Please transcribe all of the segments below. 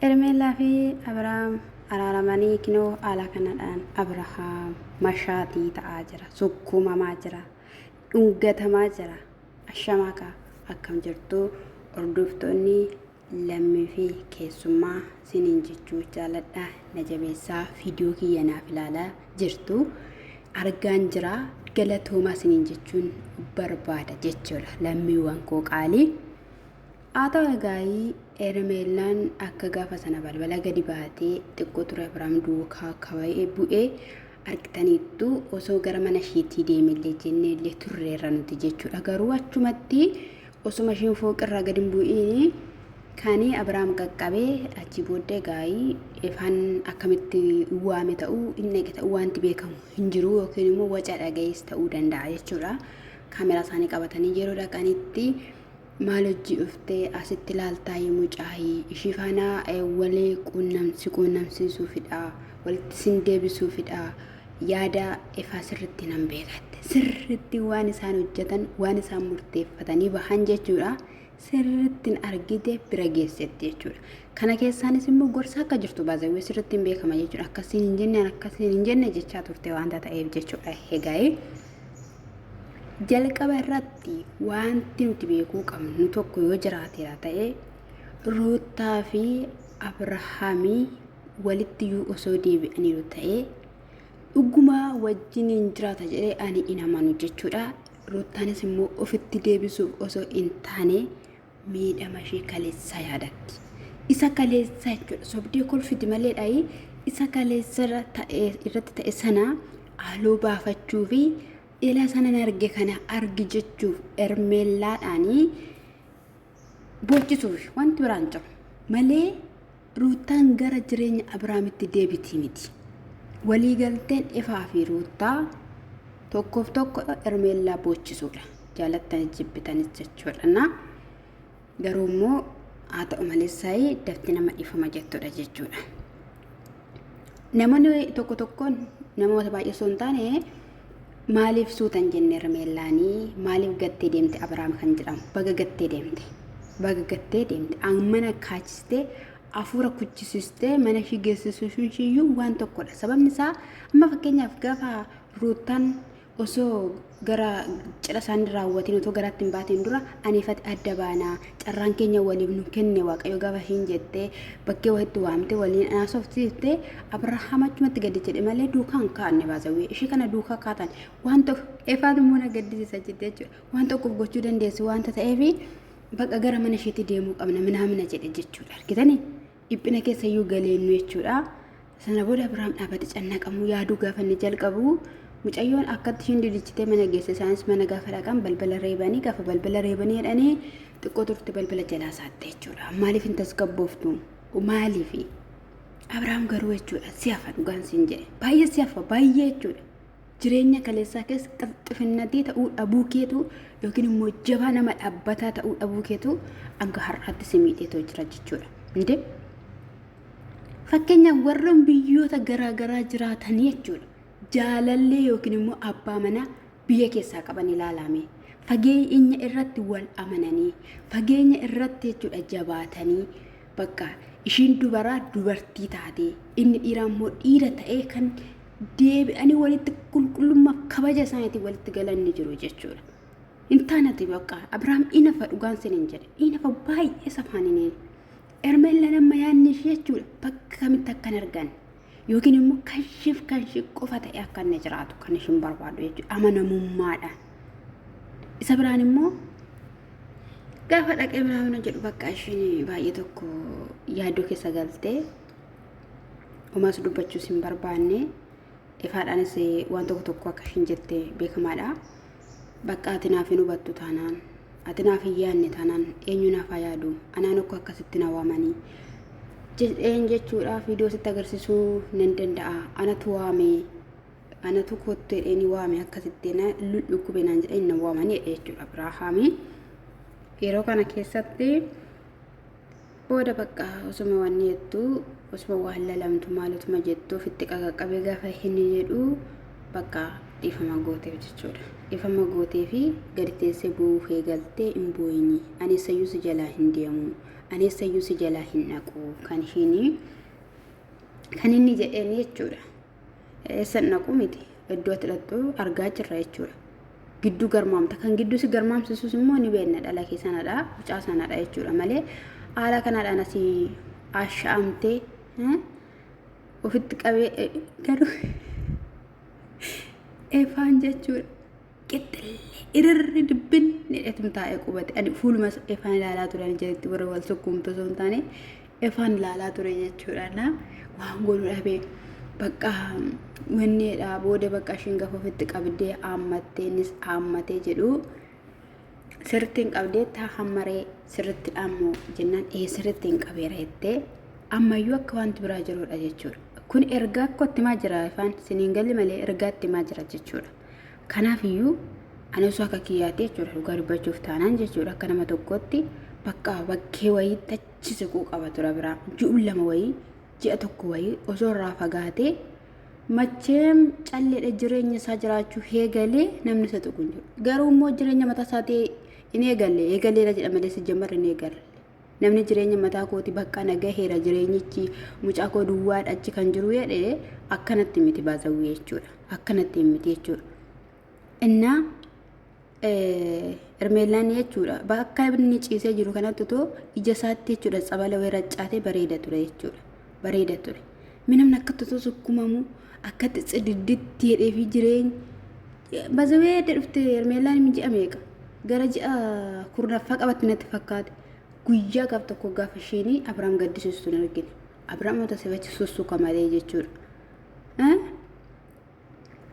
Hermeellaa fi Abiraam araaramanii kinoo haala kanadhaan Abirahaam mashaatii ta'aa jira, sukkuumamaa jira, dhungatamaa jira. Ashamaa kaa akkam jirtu hordoftoonni lammii fi keessummaa siniin jechuu jaaladha na jabeessaa viidiyoo kiyya naaf ilaalaa jirtu argaan jira galatoomaa siniin jechuun barbaada jechuudha lammiiwwan koo qaalii. Haa ta'u egaayii Hermeellaan akka gaafa sana balbala gadi baatee xiqqoo ture Abrahaam duukaa kawa'ee bu'ee argitaniittu osoo gara mana ishiitii deemellee jenneellee turreerra nuti jechuudha garuu achumatti osuma ishiin fooqirraa gadi hin bu'iin kani Abrahaam qaqqabee achii booddee gaa'ii ifaan akkamitti waame ta'uu hin dhage ta'uu wanti beekamu hin jiru yookiin immoo waca dhaga'ees ta'uu danda'a jechuudha kaameraa isaanii qabatanii yeroo dhaqanitti Maal hojjii dhuftee asitti laaltaayii mucaayii ishii faanaa walii si quunnamsiisuufidhaa walitti sin deebisuufidhaa yaada ifaa sirritti nan beekatte sirritti waan isaan hojjetan waan isaan murteeffatanii bahan jechuudha sirrittin argite bira geessetti jechuudha kana keessaanis immoo gorsa akka jirtu baazawwee sirrittiin beekama jechuudha akkasiin hin jenne akkasiin hin jenne jechaa turte waanta ta'eef jechuudha hegaa'ee. Jalqaba irratti wanti nuti beekuu qabnu tokko yoo jiraateera ta'e Ruuttaa fi Abrahaamii walitti iyyuu osoo deebi'aniiru ta'e dhugumaa wajjin hin jiraata jedhee ani hin amanu jechuudha. Ruuttaanis immoo ofitti deebisuuf osoo hin taane miidhama ishee kaleessaa yaadatti. Isa kaleessaa jechuudha. Sobdee kolfiti malee dhayi isa kaleessa irra ta'e- irratti ta'e sana haaloo baafachuu fi ila sanan arge kana argi jechuuf ermeellaadhaanii boochisuuf wanti biraan jiru malee Ruuttaan gara jireenya Abraamitti deebiti miti. Waliigalteen Efaa fi Ruuttaa tokkoof tokko Ermeellaa boochisuudha. Jaalattani jibbitanis jechuudha. Garuu immoo haa ta'u malee saayii dafti nama dhiifama jettudha jechuudha. Namoonni tokko tokkoon namoota baay'ee osoo hin taane Maaliif suuta hin jenne Hermeellaani? Maaliif gattee deemte Abiraam kan jedhamu? Baga gattee deemte. Baga gattee deemte. Mana kaachistee afuura kuchisistee mana ishii geessisuun ishiiyyuu waan tokkodha. Sababni isaa amma fakkeenyaaf gaafa ruuttan osoo gara cidha isaanii raawwatiin otoo garaatti hin baatiin dura aniifati adda baanaa carraan keenya waliif nu kenne waaqayyo gaafa hin jettee bakkee wahitti waamte waliin haasofsiifte abrahaam achumatti gadi jedhe malee duukaan kaanne baasawwee ishee kana duukaa kaatan waan tokko efaan immoo na gaddisiisa jette jechuudha waan tokkoof gochuu dandeessu waanta ta'eef bakka gara mana isheetti deemuu qabna minaamina jedhe jechuudha argitanii. dhiphina keessa iyyuu galeennu jechuudha. Sana booda Abiraam dhaabate cannaqamuu yaaduu gaafa inni jalqabu mucayyoon akkatti ishiin dilichitee mana geesse isaanis mana gaafa dhaqan balbala reebanii gaafa balbala reebanii jedhanii xiqqoo turte balbala jalaa saatte jechuudha. Maaliif hin tasgabbooftu? Maaliifi? Abiraam garuu jechuudha si hafa dhugaan siin jedhe baay'ee si hafa baay'ee jechuudha. Jireenya kaleessaa keessa xifxifinnatii ta'uu dhabuu keetu yookiin immoo jabaa nama dhaabbataa ta'uu dhabuu keetu hanga har'aatti si miidheetoo jira jechuudha. Hundee fakkeenyaaf warroon biyyoota garaagaraa jiraatanii jechuudha. Jaalallee yookiin immoo abbaa manaa biyya keessaa qaban ilaalame. Fageenya irratti wal amananii, fageenya irratti jechuudha jabaatanii bakka ishiin dubaraa dubartii taatee inni dhiiraa immoo dhiira ta'ee kan deebi'anii walitti qulqullummaa kabaja isaaniitiin walitti galan ni jiru jechuudha. Hin taanati bakka Abiraam inafa dhugaan sin hin jedhe inafa baay'ee safaan hin eegu. Ermeellaan amma yaadni ishee jechuudha bakka kamitti akka hin arganne yookiin immoo kan isheef kan ishee qofa ta'e akka inni jiraatu kan ishin barbaadu jechuudha amanamummaadhaan. Isa biraan immoo gaafa dhaqee biraamina jedhu bakka ishiin baay'ee tokko yaaddoo keessa galtee homaas dubbachuus hin barbaanne ifaadhaanis waan tokko tokko akka ishiin jette beekamaadha bakka ati naaf hin hubattu taanaan ati naaf hin yaadne taanaan eenyu naaf haa yaadu anaan akka akkasitti na waamanii jedheen jechuudha viidiyoo sitti agarsiisuu nan danda'a anatu waame anatu kottu jedheen waame akkasitti na dhukkube naan jedheen na waamanii jechuudha biraahaamii yeroo kana keessatti Booda bakka osuma wanni jettu osuma waan lalamtu maalutuma jettu ofitti qaqaqqabee gaafa hin jedhu bakka dhiifama gooteef jechuudha. Dhiifama gootee fi gadi teessee boo'uu kee galtee hin boo'ini. Ani eessayyuu si jalaa hin deemu. Ani eessayyuu si jalaa hin dhaqu. Kan ishiin kan inni jedheen jechuudha. Eessan dhaqu miti. Iddoo ati dhaqxu argaa jirra jechuudha. Gidduu garmaamta. Kan gidduu si garmaamsisus immoo ni beekna dhala kee sanadha. Mucaa sanadha jechuudha malee haala kanadhaan asii asha'amtee ofitti qabee garuu efaan jechuudha. qixxillee irarri dibbin jedhetum taa'ee qubate ani fuuluma efaan ilaalaa ture ani jedhetti warra wal sukkuumtu osoo hin taane efaan ilaalaa ture jechuudha na waan godhu dhabee bakka wanneedha booda bakka ishiin gafa ofitti qabdee haammattee innis haammatee jedhu sirritti hin qabdee taa hammaree sirritti dhaammo jennaan ee sirritti hin qabeera jettee ammayyuu akka wanti biraa jirudha jechuudha kun ergaa akkootti maa jira ifaan siniin galli malee ergaatti maa jira jechuudha. Kanaaf iyyuu ani osoo akka kiyyaatti jechuudha dhugaa dubbachuuf taanaan jechuudha akka nama tokkootti bakka bakkee wayii tachi siquu qaba tura biraa ji'uun lama wayii ji'a tokko wayii osoo irraa fagaatee macheem calleedha jireenya isaa jiraachuu heegalee namni isa tuqu hin jiru garuu immoo jireenya mataa isaatii hin eegalle eegaleera jedha malee si jammarre hin eegalle. namni jireenya mataa kooti bakka na gaheera jireenyichi mucaa koo duwwaadha achi kan jiru jedhe akkanatti miti baazawwee jechuudha akkanatti hin miti jechuudha innaa ermeellaan jechuudha bakka inni ciisee jiru kanatti otoo ija isaatti jechuudha tsabala wayii raccaatee bareeda ture jechuudha bareeda ture. Mee namni akkatti osoo sukkumamu akkatti cididditti jedhee fi jireenya bazawee adda dhufte Hermeellaan hin ji'a meeqa gara ji'a kurnaffaa qabatti natti fakkaate guyyaa gaaf tokko gaafa isheenii Abiraam gaddisiistu hin argine. Abiraam wanta sifachi sussuka malee jechuudha.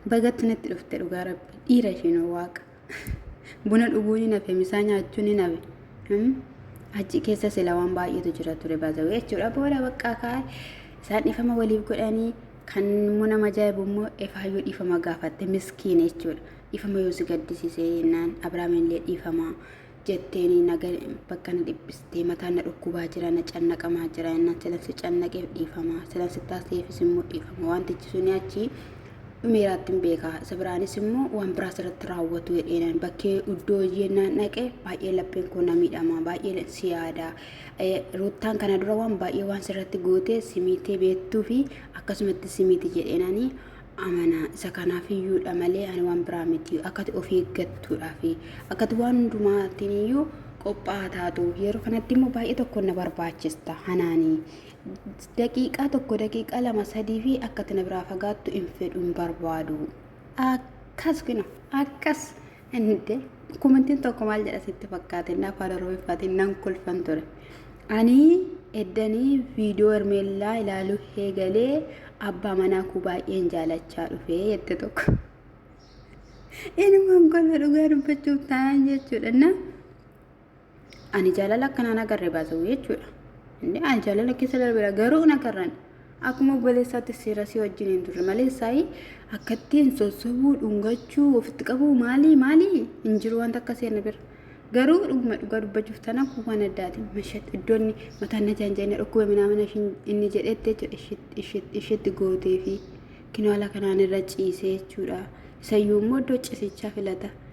Bagatti natti dhufte dhugaa rabbi dhiira ishiin waaqa buna dhuguu ni nafe misaa nyaachuu ni nafe Hmm? achi keessa sila waan baay'eetu jira ture baazawee jechuudha booda baqqaa kaa'e isaan dhiifama waliif godhanii kan immoo nama ajaa'ibu immoo efaayyuu dhiifama gaafatte miskiina jechuudha dhiifama yoo si gaddisiise jennaan abrahaam illee dhiifama jetteeni na ga- bakka na dhiphistee mataan na dhukkubaa jira na cannaqamaa jira jennaan silan si cannaqeef dhiifama silan si taasiseefis immoo dhiifama wantichi suni achi dhumeeraatti hin beeka isa biraanis immoo waan biraas irratti raawwatu jedheenaan bakkee iddoo jennaan dhaqe baay'ee lapheen koo na miidhama baay'ee si yaada Eh, ruuttaan kana dura waan baay'ee waan sirratti gootee si miitee beektuu fi akkasumatti si miiti jedheenaanii amana. Isa kanaaf iyyuudha malee ani waan biraa miti. Akkati of eeggattuudhaaf akkati waan hundumaatiin iyyuu qophaa'aa taatu. Yeroo kanatti immoo baay'ee tokko na barbaachista. Hanaani daqiiqaa tokko daqiiqaa lama sadii fi akkati na biraa fagaattu hin fedhu hin barbaadu. Akkas kina akkas. Inde komentiin tokko maal jedha sitti fakkaate inni afaan oromiffaatiin nan kolfan ture. Ani eddanii viidiyoo hermeellaa ilaaluu eegalee abbaa manaa koo baay'een jaalachaa dhufe jette tokko. Inumaan kolfa dhugaa dubbachuuf taa'an jechuudha. Na Ani jaalala akkanaan agarre baasuu jechuudha. Inni ani jaalala keessa darbeera garuu hin agarran. Akkuma obboleessaatti seera si wajjin hin turre malee saayii akkattiin sossobuu, dhungachuu, ofitti qabuu maalii maalii hin jiru wanta akka seerni bira. Garuu dhuguma dhugaa dubbachuuf tana kun waan addaati. Mashat iddoon mataan na jaanja'ina dhukkuba minaamina inni jedhetti jechuudha ishitti gootee fi kinoala kanaan irra ciisee jechuudha. Isayyuu immoo iddoo ciisichaa filata.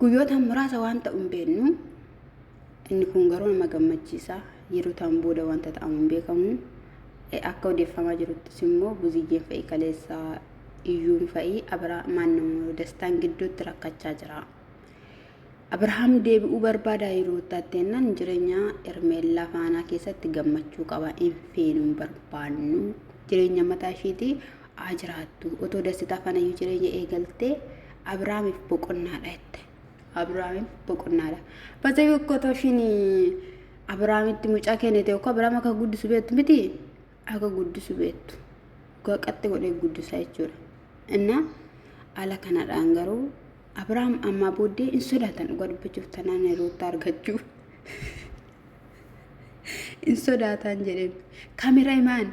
Guyyoota muraasa waan ta'u hin beeknu. Inni kun garuu nama gammachiisa. Yeroo ta'an booda wanta ta'amu hin beekamu. Akka odeeffamaa jiruttis immoo buziyyeen fa'i kaleessa iyyuun fa'i Abiraamaan namoota dastaan gidduutti rakkachaa jira. Abirahaam deebi'uu barbaada yeroo itti ennaan jireenya Ermeellaa faanaa keessatti gammachuu qaba hin feenuun barbaannu jireenya mataa ishiitii haa jiraattu. Otoo dasitaa fanayyuu jireenya eegaltee Abiraamiif boqonnaadha jette. Abiraamiif boqonnaadha. Basa yokko otoo ishiin Abiraamitti mucaa kennite yokko Abiraam akka guddisu beektu miti akka guddisu beektu. Dhugaa qaxxi godhee guddisaa jechuudha. Innaa ala kanadhaan garuu Abiraam ammaa booddee hin sodaatan dhugaa dubbachuuf tanaan roottaa argachuu. hin sodaatan jedheen. Kamera imaan.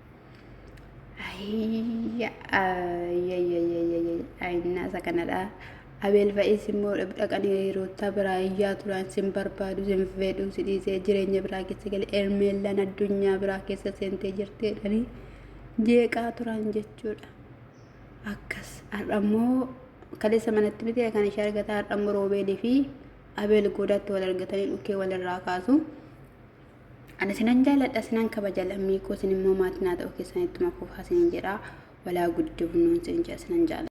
Ayinnaa isa kanadha. Abeel fa'is immoo dhaqanii hiriyoota biraa iyyaa turan sin barbaadu sin fedhu si dhiisee jireenya biraa keessa gale ermeellaan addunyaa biraa keessa seentee jirti jedhanii jeeqaa turan jechuudha. Akkas har'a immoo kaleessa manatti miti kan ishee argata har'a immoo roobeelii fi abeel goodaatti wal argatanii dhukkee walirraa kaasu. Ani sinan jaaladha sinan kabaja lammii koo sin immoo maatii naa ta'uu keessan ittuma fufaa sinin jedha walaa guddifnuun sin jedha sinan jaaladha.